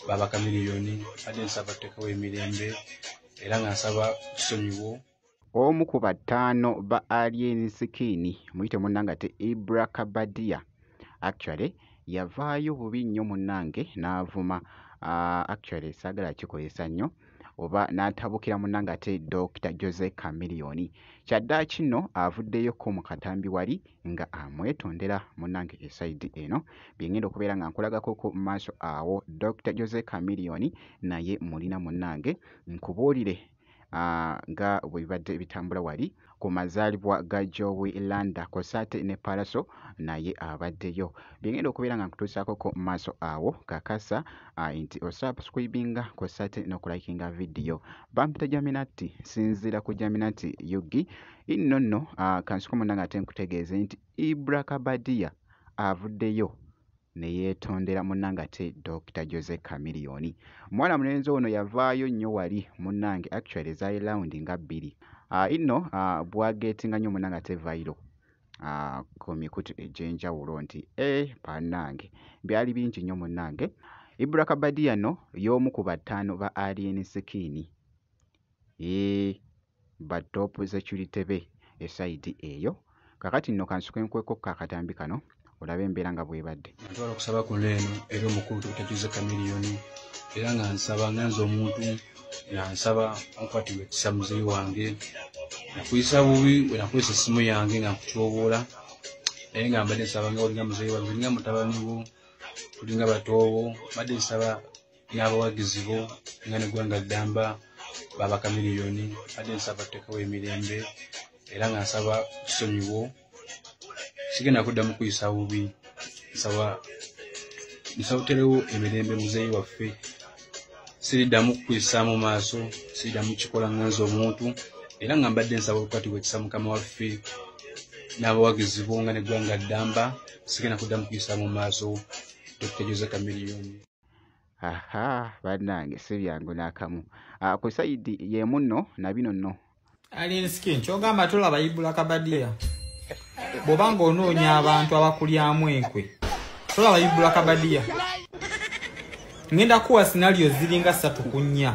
baba kamiliyoni ade nsaba tekawo emirembe era nga nsaba tusonyiwo omu ku bataano ba alien skin muyite munangate ibra kabadia actually yavaayo bubi nnyo munange n'avuma uh, actually saagala kikozesa nnyo oba n'atabukira munange ate dr jose camilioni kyaddaaki nno avuddeyo ko mu katambi wali nga amwetondera munange esaidi eno byengenda okubeera nga nkulagako ku maaso awo Dr Jose Chameleone naye mulina munange nkubuulire ah, nga bwe bibadde bitambula wali ku mazaalibwa ga Joey Landa kw'ossa ate ne Pallaso naye abaddeyo byengenda okubeera nga nkutuusaako ku maaso awo kakasa ah, nti osubscribinga kw'ossa ate n'okulayikinga vidiyo bampita Jaminati sinziira ku Jaminati Yugi Inno nno ah, kansuke munnange ate nkutegeeze nti Ibra Kabadia avuddeyo ne yeetondera munnange ate Dokita Jose Chameleone. Mwana mulenzi ono yavaayo nnyo wali munnange actually zaali round nga bbiri. Ah, inno ah, bwageetinga nnyo munnange ate vairo ah, ku mikutu egy'enjawulo nti eh, bannange byali bingi nnyo munnange. Ibra Kabadia no y'omu ku bataano ba Alien Skin. eeh ba top security be e side eyo kakati nno kansuke nkweko ko akatambi kano olabe embeera nga bwebadde ntwala okusaba kuno eno era omukulu tutajuze kamiliyoni era nga nsaba nga nze omuntu nga nsaba onkwatibwa ekisa muzeyi wange nakuyisa bubi wenakozesa essimu yange nga nkutyoboola naye nga mbadde nsaba nga olinga muzeyi wange olinga mutabani wo tulinga batoowo mbadde nsaba n'abawagizi bo nga neggwanga ddamba babakamiliyoni adde nsaba tutekewo emirembe era nga nsaba tusonyiwo sigenda kudda mu kuyisa bubi nsaba nsawuterewo emirembe muzeeyi waffe siriddamu kukuyisaamu maaso siriddamu kikola nga nze omuntu era nga mbadde nsaba olukati bwekisa mukama waffe n'abawagizi bo nga neggwanga ddamba sigenda kuddamu kuyisaamu maaso dokita jose kamiliyoni Ahaa bannange si byangu n'akamu. Ah, ku sayidi y'emu nno na bino nno. Alien skin ky'ogamba tulaba Ibula Kabadiya bw'oba ng'onoonya abantu abakulyamu enkwe tulaba Ibula Kabadiya. Ngenda kuwa sinaliyo ziringa ssatu ku nnya.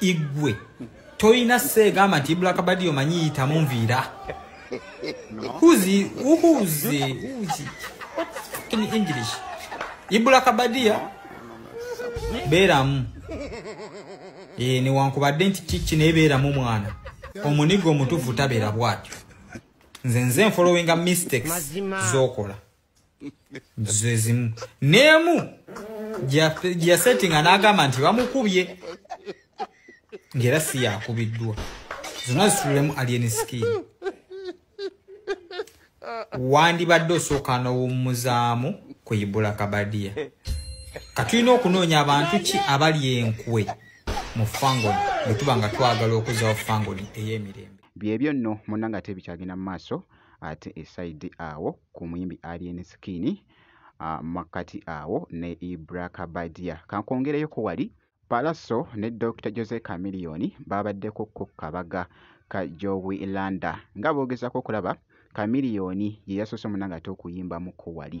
igwe toyina seegamba nti black badi omanyi yitamu nviira huzi uhuzi huzi in english ibula kabadia beramu e, newankubadde nti kiki naye beramu mwana omuniga omutufu tabera bwatyo nze nze nfolowinga mistakes zokola zezimu nemu gyasettinga n'agamba nti bamukubye ng'era si yakubiddwa zonna zitululemu alien skin wandibadde osooka n'owummuzaamu ku ibula kabadiya katulina okunoonya abantu ki abali enkwe mu fangoni bwe tuba nga twagala okuzawo fangoni ey'emirembe byebyo nno munanga ate ebikyagenda mu maaso ate e side awo ku muyimbi Alien Skin makkati awo ne Ibra Kabadia. Kankwongereyo ku wali Pallaso ne Dokita Jose Chameleone baabaddeko ku kabaga ka Jowi Landa nga boogezaako okulaba Chameleone ye yasoose munange ate okuyimbamu ku wali.